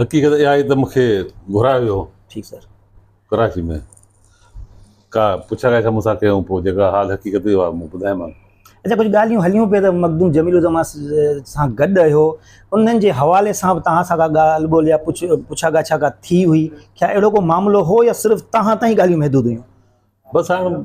حقيقت اها آهي ته مون کي گهرايو ويو هو. ٺيڪ سر. ڪراچي ۾ ڪا پڇا ڳاڇا مون سان ڪيائون پوء جيڪا حال حقيقت هئي اها مون ٻڌايومانس. اچا ڪجهه ڳالهيون هليون پئي ته مخدوم جميل الزمان سان گڏ رهيو انهن جي حوالي سان به توهان سان ڪا ڳالهه ٻولهه يا پڇا ڳاڇا ڪا ٿي هئي ڪيا اهڙو ڪو معاملو هو يا صرف توهان تائين ڳالهيون محدود هيون. بس هاڻ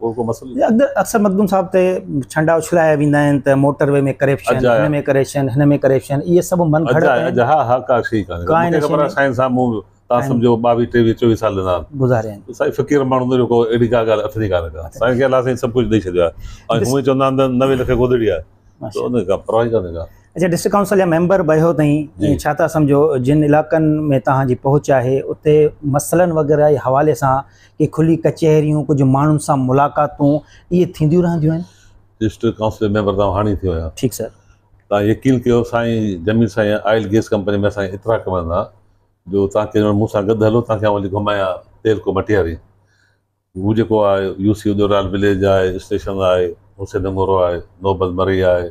اڪثر مخدوم صاحب تي ڇنڊا اڇلايا ويندا آهن ته موٽر وي ۾ ڪريپشن، هن ۾ ڪريشن، هن ۾ ڪريشن، اهي سڀ من گهڙت آهن. اچا ڊسٽرڪٽ ڪائونسل جا ميمبر بيهو تائين ڇا ٿا سمجهو جن علائقن ۾ توهان جي پهچ آهي اتي مسئلن وغيره جي حوالي سان ڪي کلي ڪچهريون، ڪجهه ماڻهن سان ملاقاتون اهي ٿينديون رهنديون آهن. ڊسٽرڪٽ ڪائونسل جي ميمبر توهان هاڻي ٿيو آهيان. ٺيڪ سر. توهان يقين ڪيو سائين جميل سائين آئل گيس ڪمپني ۾ اسانکي ايترا ڪم رهندا جو توهان ڪيڏي مهل مون سان گڏ هلو توهان کي آئون وڃي گهمايان تيل ڪو مٽياري هو جيڪو آهي يو سي ادورايل وليج آهي اسٽيشن آهي حسين نگورو آهي نوبل مري آهي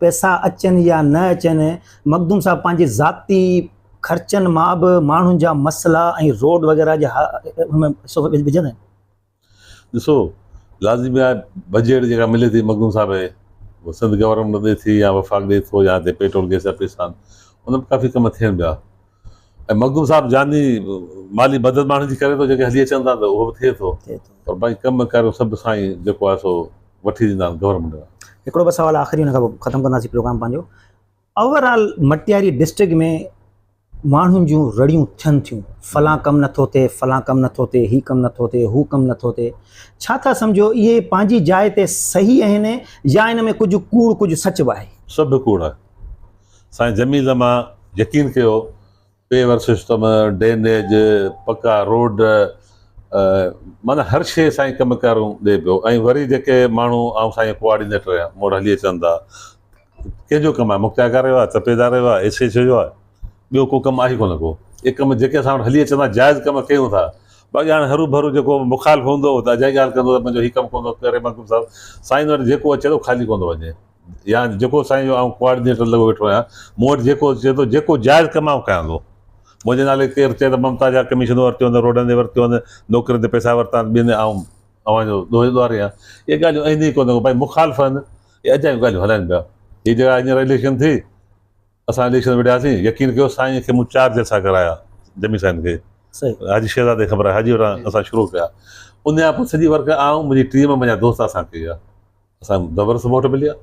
پئسا اچن يا نه اچن، مخدوم صاحب پنهنجي ذاتي خرچن مان به ماڻهن جا مسئلا ۽ روڊ وغيره جا ان ۾ حصو وجهندا آهن. ڏسو، لازمي آهي بجيٽ جيڪا ملي ٿي مخدوم صاحب هي اها سنڌ گورنمينٽ ڏئي ٿي يا وفاق ڏئي ٿو يا هتي پيٽرول گئس جا پئسا آهن، ان ۾ ڪافي ڪم ٿين پيا. ۽ مخدوم صاحب جاني مالي مدد ماڻهن جي ڪري ٿو جيڪي هلي اچن ٿا ته اهو به ٿئي ٿو پر باقي ڪم ڪار جو سڀ سائين جيڪو آهي سو وٺي ڏيندا آهن گورنمينٽ کان. هڪڙو بس سوال آخري ان کان پوء ختم ڪنداسين پروگرام پنهنجو اوور آل مٽياري ڊسٽرڪٽ ۾ ماڻهن جون رڙيون ٿين ٿيون فلان ڪم نٿو ٿئي فلان ڪم نٿو ٿئي هي ڪم نٿو ٿئي هو ڪم نٿو ٿئي ڇا ٿا سمجهو اهي پنهنجي جاء تي صحيح آهن يا ان ۾ ڪجهه ڪوڙ ڪجهه سچ به آهي؟ سڀ ڪوڙ آهي. سائين جمي زما يقين ڪيو پي ور سسٽم ڊينيج پڪا روڊ معنيٰ هر شيء سائين ڪم ڪارون ڏي پيو ۽ وري جيڪي ماڻهو آئون سائين ڪوآرڊينيٽر آهيان مون وٽ هلي اچن ٿا ڪنهن جو ڪم آهي مختياڪار جو آهي تپيدار جو آهي ايس ايڇ او جو آهي ٻيو ڪو ڪم آهي ڪونه ڪو اي ڪم جيڪي اسان وٽ هلي اچن ٿا جائز ڪم ڪيون ٿا باقي هاڻي هرو ڀرو جيڪو مخالف هوندو ته اجائي ڳالهه ڪندو ته منهنجو هي ڪم ڪونه ٿو ڪري مخدوم صاحب سائين وٽ جيڪو اچي ٿو خالي ڪونه ٿو وڃي يا جيڪو سائين جو آئون ڪوآرڊينيٽر لڳو ويٺو آهيان مون وٽ جيڪو چئي ٿو جيڪو جائز ڪم آئون ڪيان ٿو منهنجي نالي ڪير چئي ته ممتا جا ڪميشنون ورتيون اٿن روڊن جي ورتيون اٿن نوڪرين تي پئسا ورتا اٿن ٻين آئون اوهان جو ڏوهي ڏوهاري آهيان اهي ڳالهيون اينديون ئي ڪونه ڀائي مخالف آهن اهي اجايون ڳالهيون هلائن پيا هي جيڪا هينئر اليڪشن ٿي اسان اليڪشن وڙهياسين يقين ڪيو سائين کي مون چار جلسا ڪرايا جمي سائين کي صحيح حاجي شهزاد کي خبر آهي حاجي وٽان اسان شروع ڪيا ان کان پوء سڄي ورڪ آئون منهنجي ٽيم منهنجا دوست اسان ڪئي آهي اسان دبر سمهه وٽ مليا.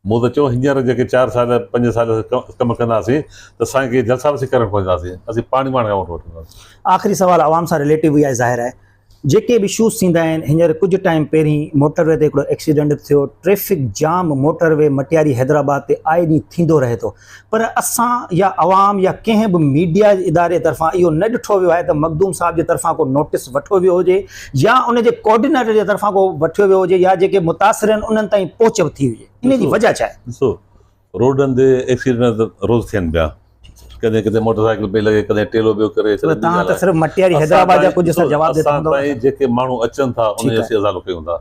مون ته چيو هينئر جيڪي چار سال پنج سال ڪم ڪنداسين ته سائين کي جلسا به اسين ڪرڻ ڪونه ڏينداسين، اسين پاڻي پاڻ کان ووٽ وٺنداسين. آخري سوال عوام سان رليٽو ئي آهي ظاهر آهي جيڪي به اشوز ٿيندا آهن هينئر ڪجهه ٽائيم پهرين موٽر وي تي هڪڙو ايڪسيڊنٽ به ٿيو traffic jam motorway Matiari Hyderabad تي آئي ڏينهن ٿيندو رهي ٿو پر اسان يا عوام يا ڪنهن به ميڊيا اداري طرفان اهو نه ڏٺو ويو آهي ته مخدوم صاحب جي طرفان ڪو نوٽيس وٺو ويو هجي يا ان جي ڪوآرڊينيٽر جي طرفان ڪو وٺيو ويو هجي يا جيڪي متاثر آهن انهن تائين پهچ ٿي هجي ان جي وجه ڇا آهي؟ ڏسو روڊن تي ايڪسيڊنٽ ته روز ٿين پيا ڪڏهن ڪٿي موٽر سائيڪل پئي لڳي ڪڏهن ٽيلو پيو ڪري ڪڏهن ٻي ڳالهه آهي اسان تائين جيڪي ماڻهو اچن ٿا انهن جي اسين ازالو ڪيون ٿا